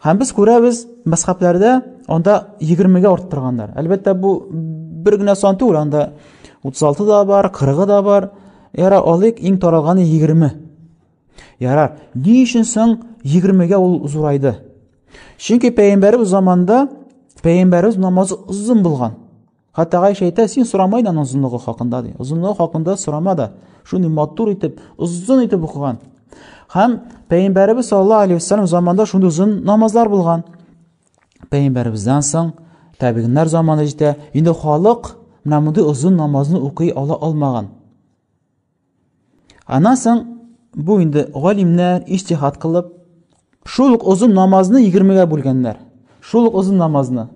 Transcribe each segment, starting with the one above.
Һәм без күрәбез, мәсхәпләрдә анда 20-гә артып торганнар. Әлбәттә, бу бер генә сан түгел, анда 36 да бар, 40 да бар. Яра алыйк, иң таралганы 20. Яра, ни өчен соң 20-гә ул зурайды? Чөнки пәйгамбәребез заманында пәйгамбәребез намазы озын булган. Хәтта Гайша әйтә, син сорамай да аның озынлыгы хакында ди. Озынлыгы хакында сорама да. Шуны матур итеп, озын итеп укыган. Һәм Пәйгамбәребез саллаллаһу алейхи вассалам заманында шундый озын намазлар булган. Пәйгамбәребездән соң табигыннар заманы җитә. Инде халык менә мондый озын намазны укый ала алмаган. Аннан соң бу инде галимнәр иҗтихад кылып, шул ук озын намазны 20-гә бүлгәннәр. Шул ук озын намазны,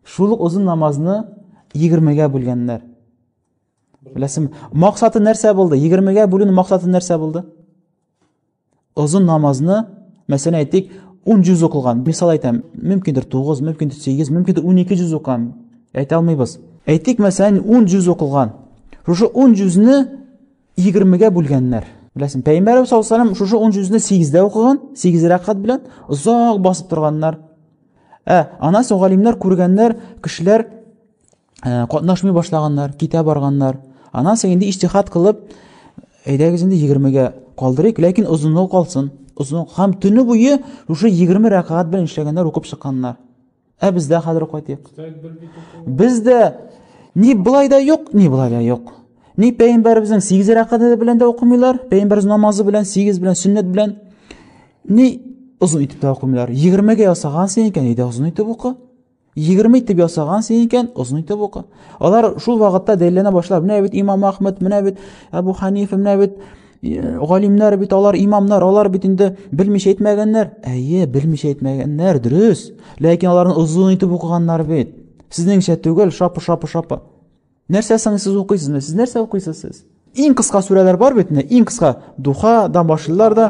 шул ук озын намазны 20-гә бүлгәннәр. Беләсем, максаты нәрсә булды? 20-гә бүлүнең максаты нәрсә булды? озын намазны мәсәлән әйтик ун жүз укылган мисал әйтәм мөмкиндер тугыз мөмкиндер сигез мөмкиндер унике жүз укыган әйтә алмыйбыз әйтик мәсәлән ун жүз укылган шушы ун жүзне егермегә бүлгәннәр беләсең пәйгамбәрбез саллаллаху алейхи шушы ун жүзне сигездә укыган сигез рәкат белән озак басып торганнар ә аннан соң галимнәр күргәннәр кешеләр ә, катнашмый башлаганнар, китә барганнар. Аннан соң инде иҗтихад кылып, әйдәгез инде 20-гә калдырыйк, ләкин озынлыгы калсын. Озын һәм төне буе шушы 20 рәкәгать белән эшләгәннәр, укып чыкканнар. Ә бездә хәзер кайтыйк. Бездә ни былай да юк, ни былай да юк. Ни пәйгамбәребезнең 8 рәкәгате белән дә укымыйлар, пәйгамбәрбез намазы белән 8 белән сөннәт белән ни озын итеп тә укымыйлар. 20-гә ясагансың икән, әйдә озын итеп укы. 20 итеп ясаган син икән, озын итеп укы. Алар шул вакытта дәлилләнә башлар. Менә бит Имам Ахмед, менә бит Абу Ханифа, менә бит э, галимнәр бит алар, имамнар, алар бит инде белмичә әйтмәгәннәр. Әйе, белмичә әйтмәгәннәр, дөрес. Ләкин аларны озын итеп укыганнар бит. Сезнеңчә түгел, шапы-шапы-шапы. Нәрсә соң сез укыйсызмы? Сез нәрсә укыйсыз сез? Иң кыска сүрәләр бар бит инде, иң кыска Духадан башлыйлар да,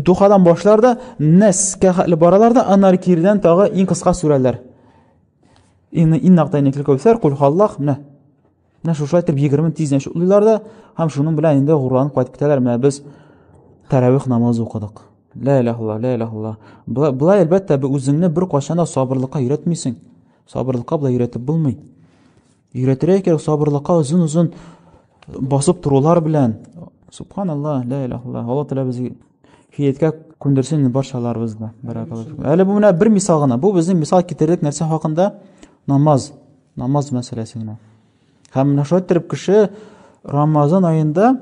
Духадан башлар да, Нәскә хәтле баралар да, аннары кирдән тагы иң кыска сүрәләр. Инна инна тайникли кәүсәр, кул халлах, менә. Менә шушылай итеп 20 тиздән шулыйлар да, һәм шуның белән инде гурланып кайтып китәләр. Менә без тәравих намазы укыдык. Ла илаһ илла, ла илаһ илла. Былай, былай әлбәттә, үзеңне бер кайчан да сабырлыкка өйрәтмисең. Сабырлыкка болай өйрәтеп булмый. Өйрәтергә кирәк сабырлыкка озын-озын басып торулар белән. Субханаллаһ, ла иляха илла. Алла тәгалә безгә хидаяткә күндерсен барчаларыбызны. Баракаллаһу. Әле бу менә бер мисал гына. Бу безнең мисал китердек нәрсә хакында? Намаз. Намаз мәсьәләсе генә. Һәм менә шулай иттереп кеше Рамазан аенда